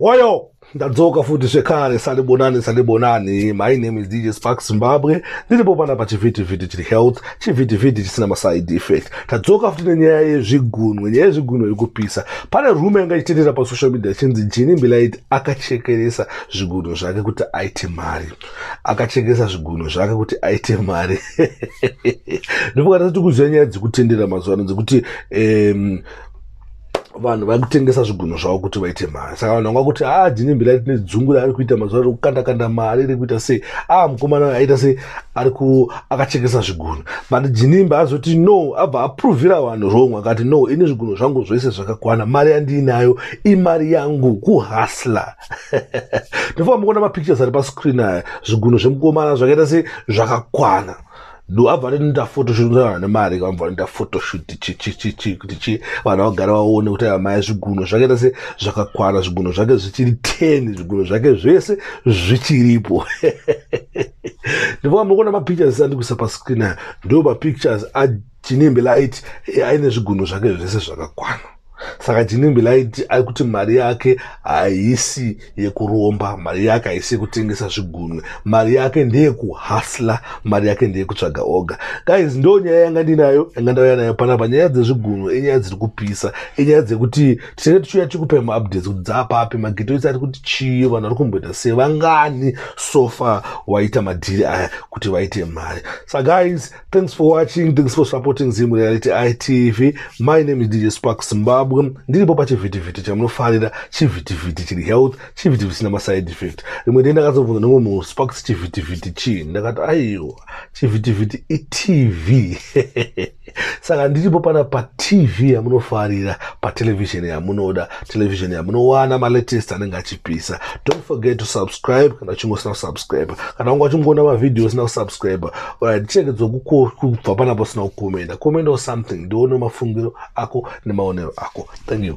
Woyo! ndadzoka futi zvekare salibonani salibonani my name is dj spark zimbabwe ndiripo pana pachivhitivhiti chiri health chivhitivhiti chisina maside effect tadzoka futi nenyaya yezvigunwe nyaya yezvigunwe iri kupisa pane rume anga ichitenderera pasocial media achinzi jini mbilaiti akachekeresa zvigunwe zvake kuti aite mari akachekeresa zvigunwe zvake kuti aite mari ndipokatati kuziva nyaya dzekutenderera mazuva ano dzekuti um, vanhu vari kutengesa zvigunho zvavo kuti vaite mari saka vanhu vanga kuti haa ah, jini mbira tine dzungu raari kuita mazuva ari kukanda kanda mari iri kuita sei aa ah, mukomana aita sei ari ku akachekesa zvigunho but jinimba azoti no abva aprovira vanhu wrong akati no ini zvigunho zvangu zvese zvakakwana mari yandiinayo imari yangu kuhasla ndofamba kuona mapictures ari pascreen aya zvigunho zvemukomana zvakaita sei zvakakwana do abva anoita photoshoot nevana vane mari ka vanobva vanoita photoshoot chichichichi kuti chi vanhu vagara vaone kuti amai zviguno zvake tese zvakakwana zviguno zvake zvichiri ten zviguno zvake zvese zvichiripo ndivaa muri kuona mapictures andikuisa pascreen aya ndo mapictures achinembe light aine zviguno zvake zvese zvakakwana saka jinimbi laiti ari kuti mari yake haisi yekuromba mari yake haisi yekutengesa zvigunwe mari yake ndeyekuhasla mari yake ndeyekutsvaga oga guys ndo nyaya yanga ndinayo yanga ndauya nayo panapa nyaya dzezvigunwe inyaya dziri kupisa inyaya dzekuti tinenge tichiuya tikupe maupdates kuti dzaapapi magito isi ari kuti chii vanhu vari kumboita sevangani sofa waita madhiri aya kuti vaite mari sa guys Thanks for watching, thanks for supporting Zim Reality ITV. My name is DJ Spark Zimbabwe. Ndiripo pachivitiviti chamunofarira, chivitiviti chiri health, chivitiviti china maside effect. Rimwe denda ndakazobvunza nomwe munhu Sparks chivitiviti chii? Ndakati aiwa, chivitiviti iTV. Saka ndiripo pana paTV yamunofarira, patelevision yamunoda, television yamunowana malatest anenge achipisa. Don't forget to subscribe kana uchingosina kusubscribe. Kana wanga uchingoona mavideo usina kusubscribe, Alright, chirege dzokubva pana pasina kukomenda komenda or something ndione mafungiro ako nemaonero ako thank you